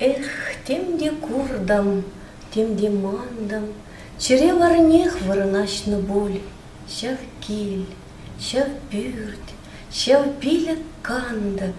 Эх, тем те куртӑм, тем те мантӑм, Чӗре варнех вырӑнаҫнӑ пуль ҫав кил, Ҫав пӳрт, ҫав пилӗк кантӑк,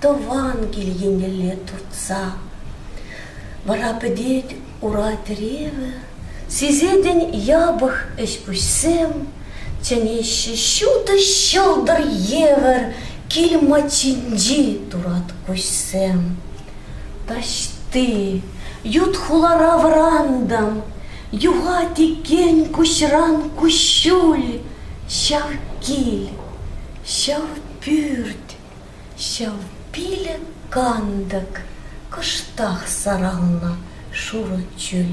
тӑван кил еннелле туртса. Вара пӗтет ура тӗревӗ, сисетӗн япӑх ӗҫ-пуҫсем, чӗнеҫҫӗ ҫутӑ ҫӑлтӑр евӗр кил маччинчи турат куҫсем. Таҫти, ют хулара вӑрантӑм, юхать икен куҫран куҫҫуль ҫав кил, ҫав пӳрт. Ҫав пилӗк кантӑк кӑштах саралнӑ шурӑ чӳл.